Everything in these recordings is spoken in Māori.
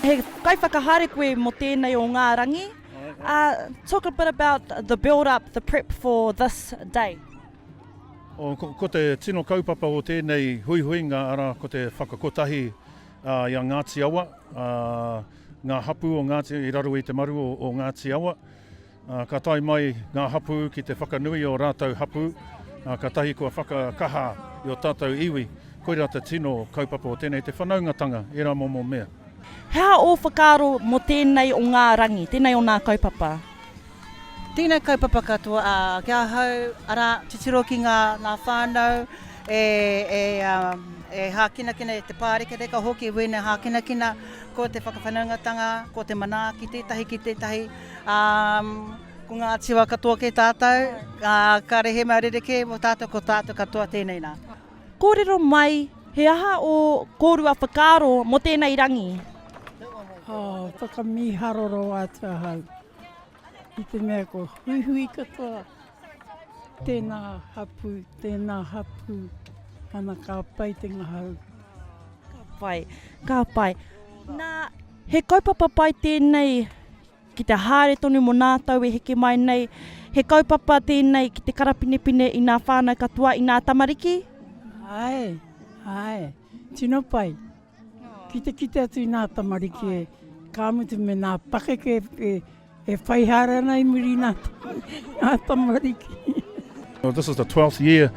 He kaiwhakahaere koe mō tēnei o ngā rangi. Talk a bit about the build up, the prep for this day. Ko te tino kaupapa o tēnei huihuinga arā ko te whakakotahi i a Ngāti Awa, ngā hapū o Ngāti Awa i raro i te maru o Ngāti Awa. Ka tae mai ngā hapū ki te whakanui i ō rātou hapū, kātahi kua whakakaha i ō tātou iwi. Koirā te tino kaupapa o tēnei, te whanaungatanga, ērā momo mea. He aha ō whakaaro mō tēnei o ngā rangi, tēnei o nā kaupapa? Tēnei kaupapa katoa, ā, ki ahau, arā, titiro ki ngā whānau e hākinakina, e te pārekareka hoki, wēnei hākinakina, ko te whakawhanaungatanga, ko te manaaki tētahi ki tētahi. Um, ko ngā tiwa katoa kei tātou, uh, ka rehe mau rerekē mō tātou ko tātou katoa tēnei nā. Kōrero mai, he aha o kōrua whakaaro mō tēnei rangi? Oh, whakamīharoro atu ahau. I te mea ko huihui katoa. Tēnā hapū, tēnā hapū, ana ka pai te ngahau. Ka pai, ka pai. Nā, he kaupapa pai tēnei ki te haere tonu mo nā tau e heke mai nei. He kaupapa tēnei ki te karapinepine i nā whānau katoa, i nā tamariki? Āe, āe, tino pai. Ki te kite atu i nā tamariki e, ka mutu me nā pakeke e, e whai haere ana i muri i nā, nā tamariki. Well, this is the 12th year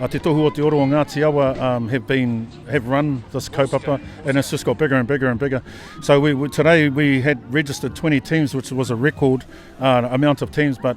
uh, Te Tohu o Te Oro o Ngāti Awa um, have been have run this kaupapa and it's just got bigger and bigger and bigger. So we, we today we had registered 20 teams which was a record uh, amount of teams but